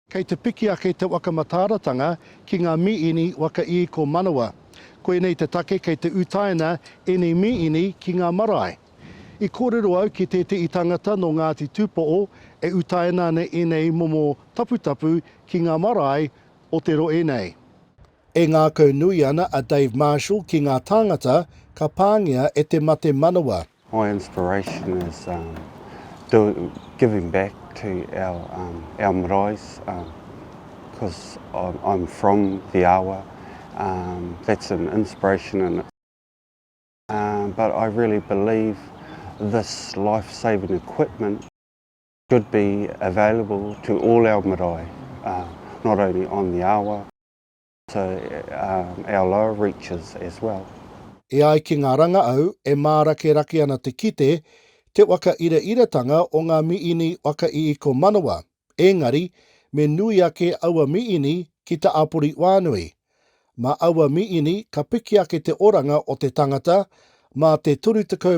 Kei te piki ake te waka mataaratanga ki ngā mīini waka īko manawa. Koinei te take kei te utaina ēnei mīini ki ngā marae. I kōrero au ki tētehi tangata nō Ngāti Tūpoʻo e utaina ana ēnei momo taputapu ki ngā marae o te roe nei. E ngākau nui ana a Dave Marshall ki ngā tāngata ka pāngia e te mate manawa. My inspiration is giving back to our maraes because I'm from the awa, that's an inspiration in itself but I really believe this life saving equipment, should be available to all our marae, not only on the awa, but also our lower reaches as well. E ai ki ngā rangaau, e mārakerake ana te kite, te whakairaratanga o ngā miini whakaiiko manawa, ēngari, me nui ake aua miini ki te āpori whānui. Mā aua miini ka piki ake te oranga o te tangata, mā te 35